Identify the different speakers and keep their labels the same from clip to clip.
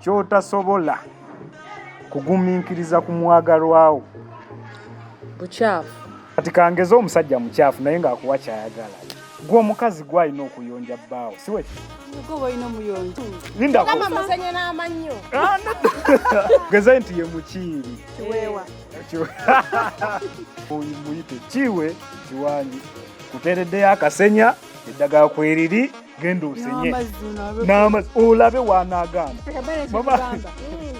Speaker 1: kyotasobola kugumiikiriza ku mwagalwawo
Speaker 2: bukyafu kati
Speaker 1: kangeze omusajja mukyafu naye ng'akuwa kyayagala gwe omukazi gwalina okuyonja bbaawo
Speaker 3: siwegeze
Speaker 1: nti ye
Speaker 3: mukiiri
Speaker 1: muyite kiwe kiwangi kuteereddeyo akasenya eddagala kweriri genda osenye n'amazzi olabe wanaagaana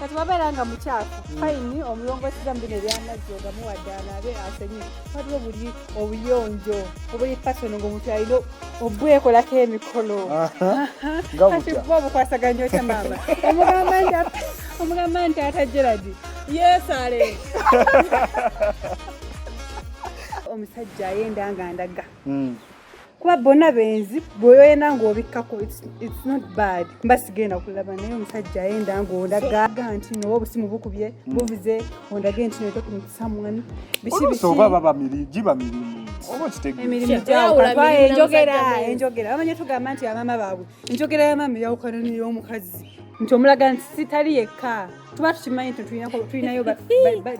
Speaker 3: kati wabeera nga mukyafu fayini mm. omulongoseza mu bino ebyamazzi ogamuwa ddaala abe asenye waliwo buli obuyonjo obuli fasono ngaomuntu alina obwekolako emikolo kati bwa obukwasaganya otya maama omugamba nti ata geradi yesale omusajja ayenda nga ndaga mm. kuba bona benzi bweyoyena ngaobikkako its not bad mba sigenda kulaba naye omusajja ayenda ngaondaga nti noba obusimu bukubye hmm. buvuze ondage nti notokumutisamuan bikibisoba
Speaker 1: baba giba mirimu
Speaker 3: enjogera enjogera bamanya tugamba nti abama baabwe enjogera yamama eyawukana neyomukazi nti omulaga nti sitali yekka tuba tukimanyi nti tulinayo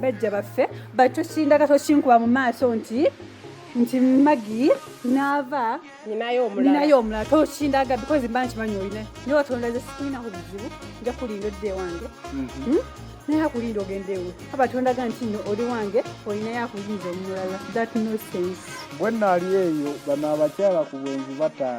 Speaker 3: bajja baffe but tokindaga tokinkuba mu maaso nti nti magi naava ninayo omulala tokindaga because mba nkimanyi olina naye watonda ze sikulina ku bizibu nja kulinda odde wange mhm. hmm? naye akulinda ogenda ewe abatondaga nti no oli wange olinayo akuyinza omulala
Speaker 1: that
Speaker 3: no
Speaker 1: sense bwe naali
Speaker 3: eyo
Speaker 1: bano
Speaker 3: abakyala
Speaker 1: ku bwenzi bataano